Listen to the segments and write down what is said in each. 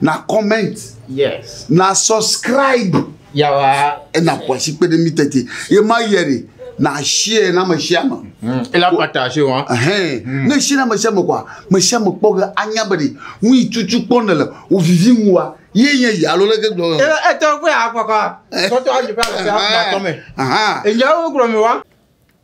na comment yes na subscribe yawa ena kwasi kpe ɖe mi tete ye ma yɛ de na share na me share ma hmm. ela partage wa hein hmm. ne share na me share ma kwa me share ma kpɔ ge anya be de nu yi tutu kpɔ ne le o vivi mu wa ye nye ya lo leke gblɔ e e tɔ ko ya kpɔ kwa tɔtɔ ayi pa se ha tɔ me aha e nya wo gblɔ me wa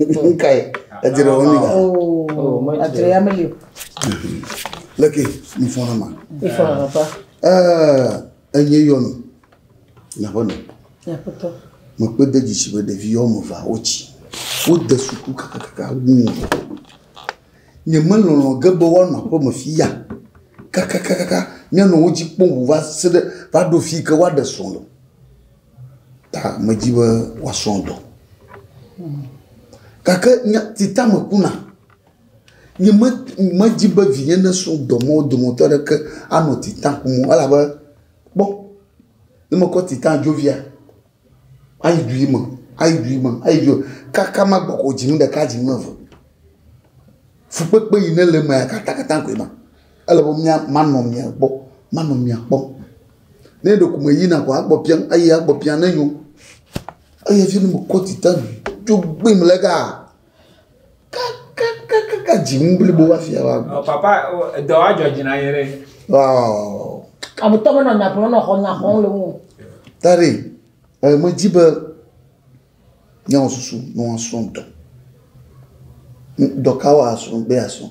Nkae edzre wo nida. Oh, adzre ya meli o. Leke mi fɔ na ma. Mi fɔ na papa. Eh, enye yɔ mi. Na bɔ ne. Ya papa. Mo pe de djisi be ɖevi yɔ mo va wo ci. Wo de suku kaka kaka wu. Nye me lɔlɔ ge be wa no aƒe me fi ya. Kaka kaka kaka. Nye no wo dji kpɔ wu va se de va do fi ke wa de sɔn lo. Ta medi be wòasrɔ̃ dɔ. Gake nya si ta mekuna, nyeme, medi be vinye nasrɔ̃ dɔ ma wo dometɔ aɖeke anɔ tita kum o elabe, kpɔ, ne mekɔ tita dzovia, ayi du yi me, ayi du yi me, ayi du yi me kaka magbɔ ko dzi nu ɖeka, dzi nu eve. Fukpekpe yi ne le emea, katakata koe ma. Ele be mía, manɔ mia gbɔ, manɔ mia kpɔm. Ne ɖeko meyina koa, egbɔ biam eyi egbɔ biam ne nyo. Eyi hafi ne mekɔ dziɖa dzo gbim le ega kakakaka dzimu blibo hafi ava gbɔ. Ɔ papa o edɔ wa dzɔ dzi na ye ɖe. Ɔɔ. Ametɔ menɔ nya ƒo nɔ xɔ nya xɔm le ŋu. Tade, e medzi be Nye wɔ susu ne woa srɔ̃ dɔ. Dɔ ka woa srɔ̃ be asrɔ̃?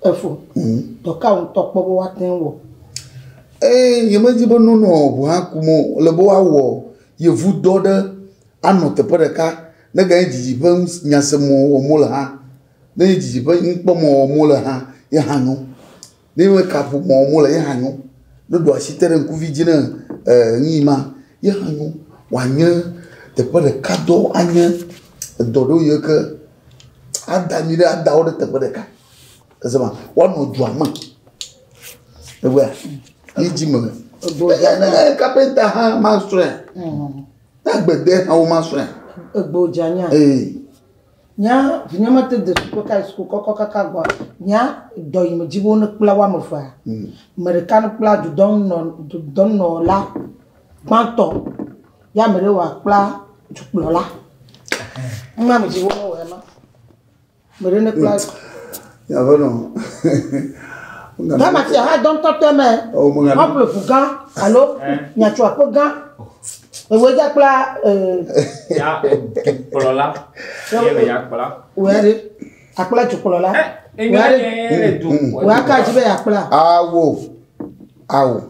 Efo, dɔ ka wotɔ kpɔ be woate ŋu wɔ? Ee, nye me di be nɔnɔ ŋu hã kum o. Ele be woa wɔ yevu dɔ ɖe anɔ teƒe ɖeka. Ne ganye didi ƒe ŋus nya se mɔ wɔm wole hã. Ne nye didi ƒe nukpɔ mɔ wɔm wole hã ye hã nyo. Ne me ka ƒo mɔ mo le ye hã nyo. Ne ɖo asi te ɖe ŋkuvi dzi ne e nu yi ma ye hã nyo. Wa nye teƒe ɖeka dɔ anye edɔ ɖo yi ke ada mi ɖe ada wo ɖe teƒe ɖeka. Ese ma wa nɔ dua me. Ewɔa yi dzi me. Egbo dza ne ne kapenta hã ma sɔe. Na gbede hã wo ma sɔe. Egbo dza nya. Ee. Nya vinye mete de suku ka yi suku kɔkɔ kaka gɔa nya dɔ yi me dzi wo ne kpla wa me fa. Mm. Me de kan kpla du dɔn nɔ du dɔn nɔ la kpantɔ ya me de wa kpla du kpla la. Ma me dzi wo ne wa ma. Me de ne kpla. Mm. Aƒenɔ. Ghana fia hã dɔ ŋutɔ tɔe mɛ. Ewɔ me ŋana. Woaƒle ʋu gã alo miatso aƒe gã. Ewɔe dza kpla ee. Ya dukplɔla. Ye me ya kpla. Wòya ɖe. Akpla dukplɔla. Wòya ɖe. Wòya ka dzi be yeakpla. Awo. Awo.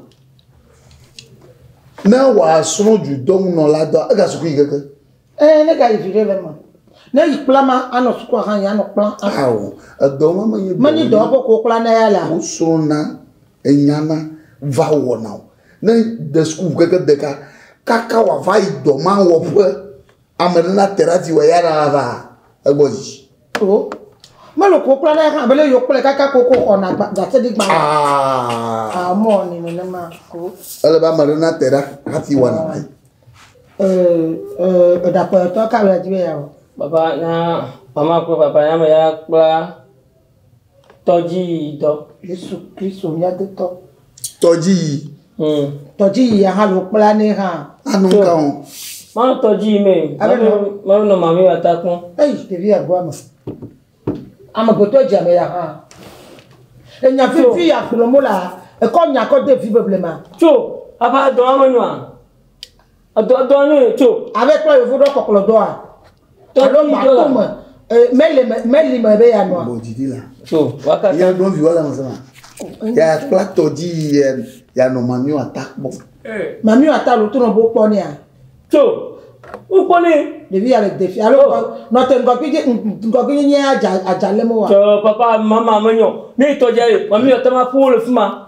Ne wòasrɔ̃ dudɔnunɔla dɔ egasukui keke. Eee, ne gayi viɖe le eme. Ne yi kpla ma anɔ sukua hã yi anɔ kpla. Ao, edɔ ma menye dɔ. Menye dɔ woƒe ko kpla ne ya la. Wosrɔ̃na, enyana, va wɔna o. Ne de sukuʋu keke deka kaka wòava yi dɔ ma wɔƒe, ame ɖe nate ɖe ati wɔ ya la va egbɔ dzi. Oo. Melo ko kura ɖe hã bele yokple kaka koko xɔna gatedigba. Ah. Ah, mɔ ni nenema. Oo. Ele ba mare na te ɖa hafi wana na. Eh, eh, edakɔ to ka la jibe ya. Papa na mama ko papa ya me ya kpla. Tɔdziyidɔ. Yesu Kristo mía Agbetɔ. Tɔdziyi. Hmm. Tɔdziyi ya hã lo kpla ne hã. Ano ka ho. Mawu tɔdziyi me. Mawu nɔ mami wa ta kpɔn. Eyi ɖevi ya goa me. Amegbetɔ dzi ame ya hã. Enya fifi ya kplɔ mo la ekɔ nya kɔ de vi beble ma. Tso afa dɔn ame nua. Edɔ dɔ nyo tso. Abe kple yevu ɖɔ kɔkplɔ dɔa. Alo mato me. Meli me meli me be ya nɔa. Bɔdidi la. Tso. Waka. Ya ɖo viwa la me sema. Ya kpla tɔdzi ya ya nɔ mamio ata kpɔ. Mamio ata lo to nɔ bo kpɔ nea. Tso. Ukpɔ ne. Ɖevi ya le defi alo nɔ te ŋgɔgbi je ŋgɔgbi nye nye ya dza adza le mo wa. Tso papa mama me nyo. Ne tɔdzi ya ye mamio ata ma ƒu le fima.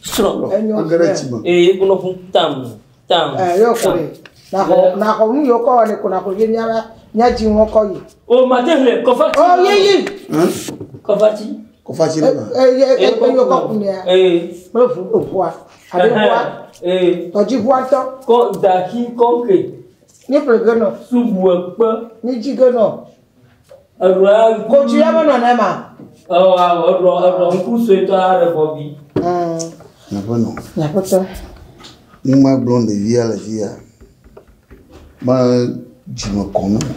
Srɔ̃. Enyɔ Age ɖe ti me. Ee, ye ko nɔƒu tam, tam. Ɛ yɔ ko tam. ye. Naxɔ Ee. naxɔ nu yɔ kɔ wɔ ne ko naxɔ ye miala miadzi ŋɔ kɔ yi. O mate hle kɔfati. O ye yi. Hɛn? Kɔfati. Kɔfati ɖe ma. Ɛ ye ɛ ko yɔ kɔ ku nea. Ee. Kple ʋu eʋua. Abe Ɛhɛn. ʋua. Ee. Tɔdzi ʋua ŋtɔ. Kɔ daxi kɔŋke. Míeƒle ge nɔ. Subu ekpe. Míedzi ge nɔ. Eɖɔa ŋku. Ko tsi ya me nɔ nɛma. Ewɔ awɔ eɖɔ eɖɔ ŋku suetɔ aɖe bɔbi. Nyaƒenɔ. Nyaƒetɔ. Numa gblɔ ɖevia le fia. Me dzime kɔ ne mo.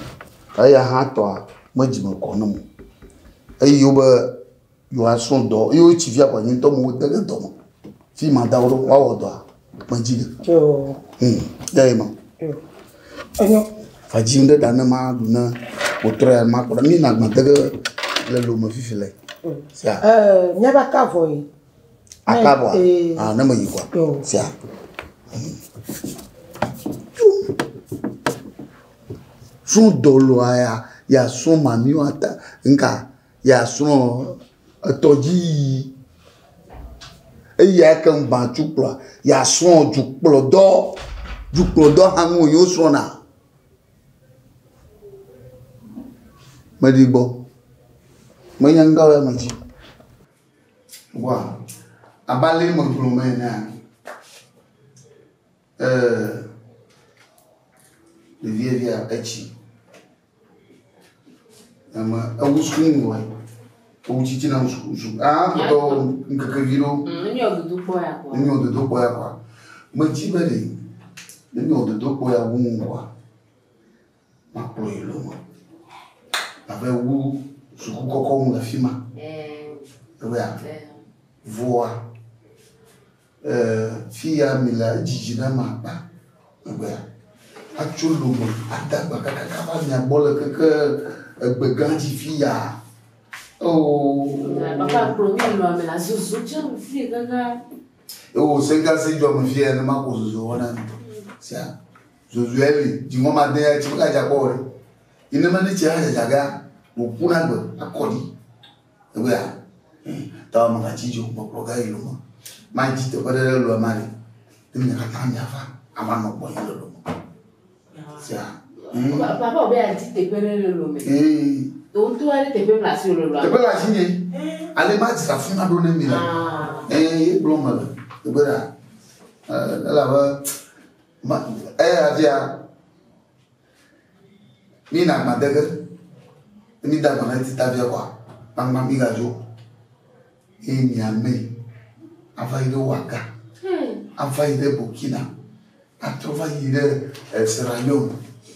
Eya hã tɔa me dzime kɔ ne mo. Eyi wobe Yo a srɔn dɔ, yo o tsi fia kwa nyi tɔ mo o tɛgɛ dɔ mo. Fi ma da o ɖo, wa wɔ dɔ a, me dzi ɖe. Yo. Hmm, ya yi ma. Yo. Enyo. Fa dzi ŋɖe da ne ma ɖu ne o trɔ ya ma kpɔɖa, mi na gbã tɛgɛ le lo me fifi le. Sia. Ɛɛ, nya ba ka vɔ yi. Aka vɔ a? Ee. Ah, ne me yi kwa. Yo. Sia. Srɔn dɔ lo a ya, ya srɔn ma mi wa ta, nka. yeasrɔ̃ etɔdziyiyi, eyi ake ŋu gbã tsu kplɔa, yeasrɔ̃ dukplɔdɔ. Dukplɔdɔ hã nu wònye wosrɔ̃na. Meɖi gbɔ. Menya ŋdɔ le eme dzi. Wa, abe ale megblɔ me enea, ee, ɖevia via etsi. Ame ewu suku ŋu wɔe. Ewu tsitsi na ŋu suku suku. Ah, kpɔtɔ ŋkeke vi ɖewo. Mm, ne nyɔ dodo kpɔ ya kpɔ. Ne nyɔ dodo kpɔ ya kpɔ. Metsi be ɖe ne nyɔ dodo kpɔ ya wu ŋu wɔa, makplɔ yi lo me. Abe wu suku kɔkɔ ŋu le fi ma. Eh, Ewɔa, eh. vɔa. Ee, fi ya milea, edzi dzi na ma akpa egbea. Atso lo me ade agba kakaka va mia gbɔ le keke egbe gã dzi fi ya. Oo. Papa kplɔ mi nɔ ame la zozo tsɛ fi ganga. Ewo se gã si dzɔ me fi ya ne ma ko zozo wɔna mi. Sia zozo ya li dzi ŋɔ ma de ya tsi ka dza kɔ wɔ. Ine me ne tsi ya dza ga mo kuna gbe akɔdi. Egbea, tawa magatsi dzo kpɔkpɔ gã yi lome. Madzi teƒe ɖe ɖe lɔe mali. Ne mi katã miava, ava nɔ gbɔ yi le lome. Sia. Papa obe adzi teƒe ɖe le lome. Ee. Wo ŋutɔ ale teƒe mla si le lɔa. Teƒe la si nye. Ale madzi la funa ɖo ne mi la. Ee, ye gblɔ me le. Egbea, elabe, ma, eya dia, Mi na agba dege. Ne mi da agba na eti ta via kɔa, gbangba mi ga dzo. Ye mi ame ava yi ɖe Ouaga, hmm. ava yi ɖe Burkina, atrɔ va yi ɖe eh, Sierra Leone,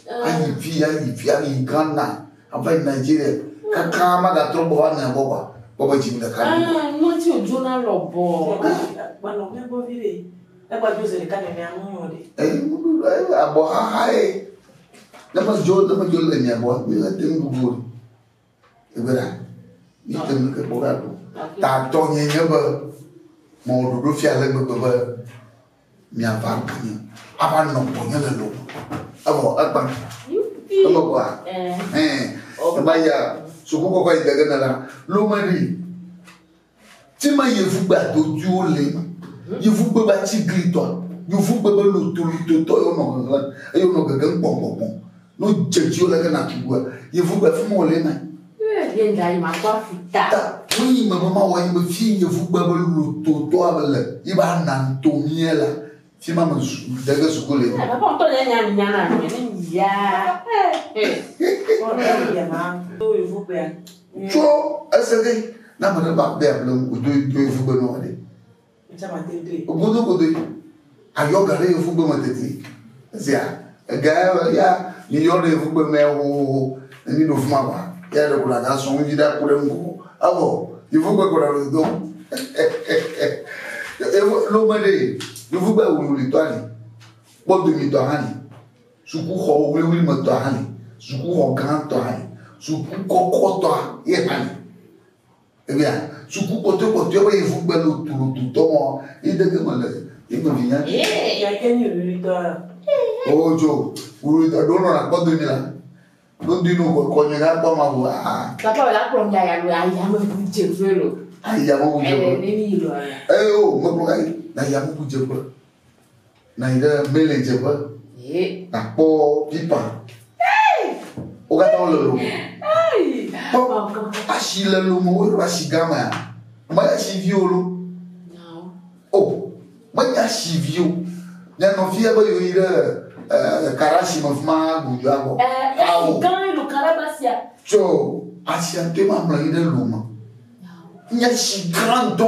ah. ayi vi, ayi vi, ayi Ghana, ava yi Nigeria, hmm. kaka ma ga trɔ gbɔ va mia gbɔ kɔa, gbɔ be dzi mi ɖeka. Ah, Nɔti o dzona lɔbɔ. Gbalɔ mɛ gbɔ vi ɖe. Negba dzo ze ɖeka nenea nu nyo ɖe. Eyi ŋuɖu ɖo eyi le abɔ xaxa ye. Ne me dzo ne me dzo le nye abɔ mi le te ŋu ŋu. Egbe ɖa. Mi te ŋu ke kpɔ ga ɖo. Ta tɔ nye nye be mɔ ɖoɖo fia le gbegbe be mi ava ɖo nye. Ava nɔ gbɔ nye le lo. Evɔ egba. Eme gba. Eh. Ema ya suku kɔkɔ yi dege ne la. Lo me ɖi. Tsema yevugbe adodwiwo le eme, yevugbe be atsiglitɔ, yevugbe be lotolitotɔ ye wonɔ ŋeŋlẽ eye wonɔ gegem kpɔnkpɔnkpɔn. Ne wodze dziwò leke nàtu ŋua, yevugbe afi ma wòle eme. Ye ŋda yi makpɔ afi ta. Ta nu yi me be mawɔ enye be, fi yi yevugbe be lototɔa le yi be ana nuto mía la, Fi ma me zu de ge suku le. Papa ŋutɔ nye nya nya na mi ne ya. Sɔrɔ ya mi ma. Do evu gbe. Tso ese de na me ne ba be able o do do evu gbe no ale. Echa ma te do. Ogodo godo. Ayo gare evu gbe me tete. Zia. Egae be ya miyɔ ɖe yevugbe mɛ hohoho ne miɖo fuma ba ya ɖeko naga sɔŋ dzi ɖa ku ɖe ŋgɔ evɔ yevugbe kɔ ɖe do evo lome ɖe yevugbe wululi tɔ ali kpɔdo mi tɔ hali sukuxɔ wuli me tɔ hali sukuxɔ gã tɔ hali suku kɔkɔ tɔ ye hali Ebia suku kpɔtɔe kpɔtɔe be yevu gbe lo tulu tu tɔ mɔ yi dege me le yi me vinya. Yee ya ke ni ruri tɔ ya. O jo ruri tɔ do no na kpɔ demi la. Do di no ko ko nye ga kpɔ ma bo a. Ta kpɔ la kpɔ nda ya lo ya ya me bu je fe lo. Ai ya me bu je fe. Ele ni lo. Ai o me kpɔ ai na ya me bu je fe. Nɔ anyi ɖe mele dzeƒe. Ye. Nakpɔ pipa. Wo katã wole lomo. Kpɔ asi le lomo wo ɖo asi gã mea. Me asi vi wo lo. O menye asi vi o. Nye nɔvi ebe yewo yi ɖe eh, kara si me fuma gudu abɔ. Eh, Awo. Gã elo kara ba sia. Tsɔ asi ante ma mlɔ yi ɖe lomo. Nye asi gã ŋutɔ.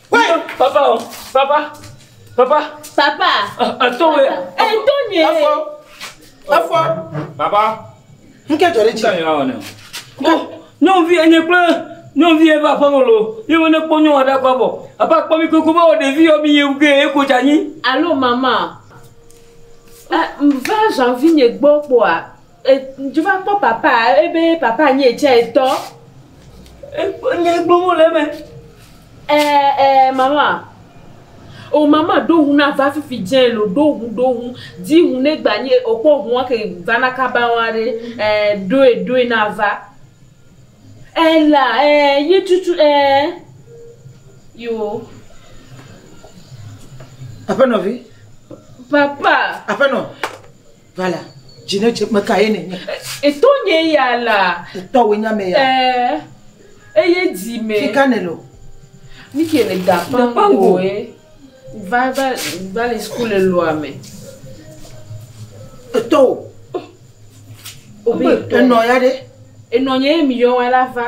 Papa o, papa, papa. Papa. Eto wɛ. Eto nye. Efɔ. Efɔ. Papa. Nu ke dzɔ ɖe dzi. Kanyɔ awɔ ne. Ko nyɔnuvi enye kple nyɔnuvi ebe aƒeme lo. Ye wo ne kpɔ nyɔ aɖe akɔ bɔ. Apa kpɔ mi koko ba wɔ ɖevi yɔ mi ye ge ye ko dza nyi. Alo mama. Eh, va janvi nye gbɔ kpɔa. Ŋdzi va kpɔ papa ebe papa nyi etsɛ etɔ. Ekpɔ nyi ekpɔ mɔ le eme. Ɛɛ ɛɛ mama. O mama ɖo ŋu na va fifi dze lo ɖo ŋu ɖo ŋu. Dzi ŋu ne gba nyi okpɔ ŋu ake va na kaba ŋu aɖe. Ɛɛ ɖoe ɖoe na va. Ɛɛ la ɛɛ yi tutu ɛɛ yo. Aƒenɔvi. Papa. Aƒenɔ. Vala, dzi ne dze meka ye nènye? Etɔ nye ya la. Etɔ wòe nye ame ya. Ɛɛ eye dzi me. Fika nèle o. Nu ke le da pangoe. Va va va le suku le lɔa me. Etɔ o. Obe enɔ ya ɖe. Enɔ nye ye mi yɔ wa la va.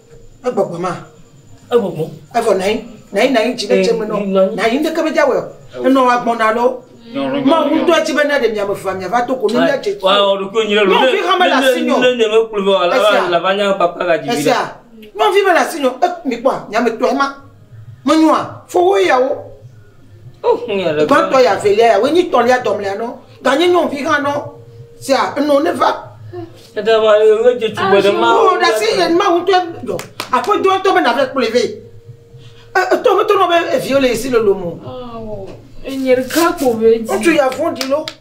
Egbɔgbɔ ma. Egbɔgbɔ. Evɔ nayi nayi nayi dzi ɖe dze me nɔ nayi ŋdeke me dza wɔ enɔ wa gbɔn na lɔ. Ma ŋutɔ dzi be na ɖe mia me va mia va to ko ne mia dze tsi. Wa ɔɖo ko nyi lɔ. Nyɔvi ha me la si nyɔ. Ne ne me kplu vɔ la va la va nya papa ga dzi. Esia. Nyɔvi me la si nyɔ. E mi kpɔ a nya me tɔ ema. Me nyɔ a fo wo yawo. Gbãtɔ ya velia ya, wonyi tɔlia dɔmlea nɔ, ganye nyɔnuvi hã nɔ. Sea, enɔ ne va. Eda va ye wo dze tugbe ɖe ma. Wo ɖa si ye ma ŋutɔ dɔ. Aƒe dɔ tɔ be na ve kplɔe ve. E tɔ me tɔ nɔ be eviwo le esi lolo mo. Awɔ. Enye ɖeka kpo ve dzi. Ŋutsu ya vɔn ɖi lo.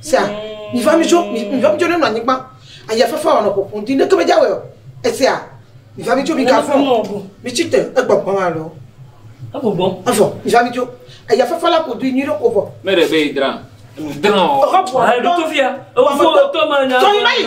Sea, mi va mi tso, mi mi va mi tso ne nɔ anyigba, aya fafa wɔ nɔ ƒoƒo di ne ke me dza wɛ o. Esia, mi va mi tso mi ga fɔ, mi tsi te egbɔ gbɔ ma lɔ. Egbɔ gbɔ. Efɔ, mi va mi tso. Aya fafa la ƒo di nyui ɖe ko vɔ. Me ɖe be yi dra, nu dra o. Exa bua. Ayi ɖo to fia, ewa fɔ o to ma nya. Tɔ yi na yi.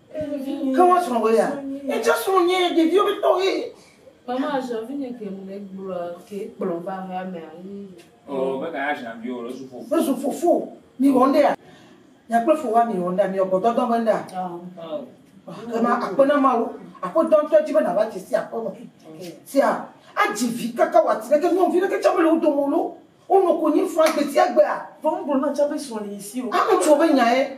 Ke woa srɔ̃ wò ya? Ye tsã srɔ̃ nye ɖeviwo be tɔ ɣi. Mama azã vi nye ke le gblɔ ke kplɔ va hea me ayi. O be ka azã vi o le zu fofo. Le zu fofo. Mi wɔ nɖea? Nya kple fo wa mi wɔ nɖea? Mi wɔ gbɔdɔdɔ be nɖea? Ke ma akpe na ma wo. Aƒe dɔ ŋtɔ dzi be na va dzi si aƒe me. Sia a dzi vi kaka wa ti ɖe ke nyɔnu vi ɖe ke tsɛ me le wo dome o lo. Wo nɔ konyi faa gbesiagbea. Vɔ ŋgblɔ na tsã be srɔ̃ li yi si o. Ame ŋutsuwo be nya ye.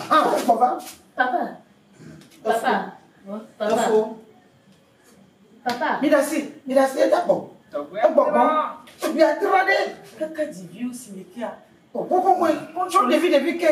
Hã gbɔ va. Papa. Papa. Efo. Papa. Mi ɖasi. Mi ɖasi eda gbɔ. Egbɔgbɔ. Tugbi adra ɖe. Kaka dziviwo si me kia. Ohohohoe. Tsɔ ɖevi ɖevi ke.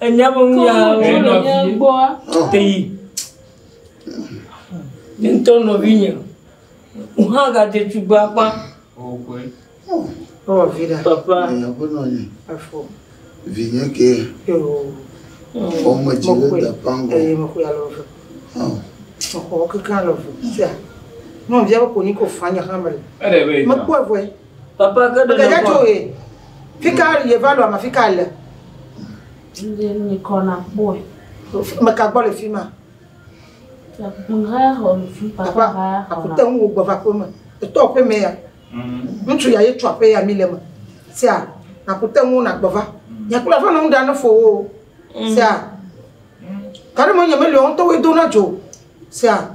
Enya me nu ya teyi. Ne ŋutɔ nɔvi nye, ŋu hã gadze tugbe akpa. Ewɔ vi ɖa. Papa. Aƒenɔ nye. Afɔ. Vi nye ke. Ɔme dzi ɖe da pango. Eye me koe alɔ ve. Mexɔ keke alɔ ve. Tia. Nɔvia be konyi ko fanya hamel. Mekpɔ vɔe. Papa ke ɖe Gɛdɛ tso he. Fika yeva lɔ ma fika le. Ndi ni kɔ na kpɔe. Meka gbɔ le fima. Nga xɔ nu fi papa ba ya xɔ na. Akute ŋu gbɔ va kpɔ me. Etɔ pe me ya. Ŋutsu ya ye tsɔ pe ya mi le me. Sia akute ŋu na gbɔ va. Nya kula fa na ŋu da ne fo wo. Sia. Kare mo nya me le on to we do na jo. Sia.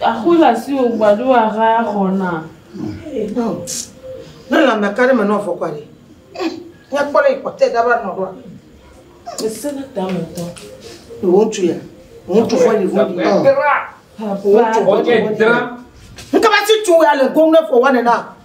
Axoe le asiwò gbado axa xɔ na. Ne lãme ka ɖe me nɔ fɔkua ɖe? Ne kpɔ ɖe yi kpɔtɛ da va nɔ ɖoa. Ese ne ta me tɔ. Wo ŋutsu ya. Wo ŋutsu fɔ yi vɔ di. Wo ŋutsu fɔ di. Nkaba ti tu ya le gom ne fɔ wa ne na.